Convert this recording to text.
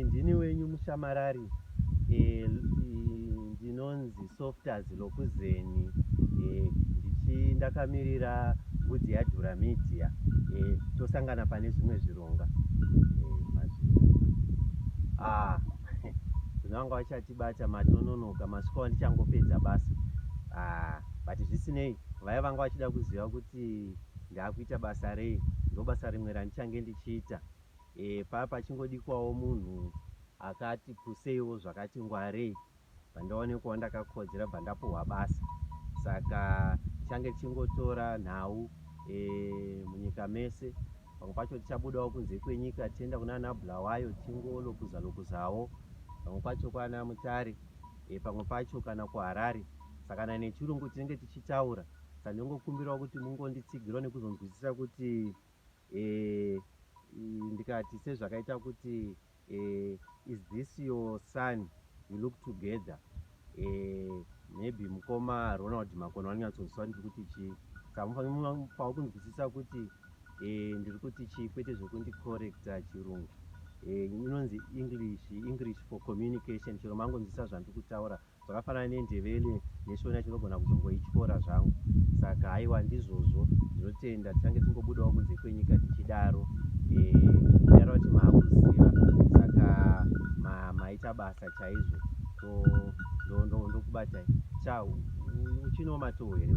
ndini wenyu mushamarari ndinonzi softas lokuzeni ndichi ndakamirira mbudzi yadhura media tosangana pane zvimwe zvironga ah, zvinonga vachatibata matononoka masiku andichangopedza basa ah, but zvisinei vaya vanga vachida kuziva kuti ndakuita basa rei ndobasa rimwe randichange ndichiita eh, paya pachingodikwawo munhu akati puseiwo zvakati ngwarei pandaone kuva ndakakodzera bva ndapuhwa basa saka tichange tichingotora nhau eh, munyika mese pamwe pacho tichabudawo kunze kwenyika tienda kuna ana bulawayo tingolokuza lokuzawo pamwe pacho kwana mutare eh, pamwe pacho kana kuharare sakana nechirungu tinenge tichitaura Ndinongokumbirawo kuti mungonditsigirawo nekuzonzwisisa kuti eh, ndikati sezvakaita kuti eh, is this your son you look together eh, maybe mukoma Ronald Makona vanonyatsonzwisisa ndiri kuti chii samufanipao kunzwisisa kuti eh, ndiri kuti chii kwete zvekundicorrecta chirungu eh, inonzi english english for communication chero mangonzwisisa zvandiri kutaura zvakafanana nendevele neshona chinogona kuzongoityora zvangu saka haiwa ndizvozvo ndinotenda tichange tingobudawo kunze kwenyika tichidaro ndidaro eh, kuti maakuziva saka maita basa chaizvo ndokubatai cha uchinomatoo here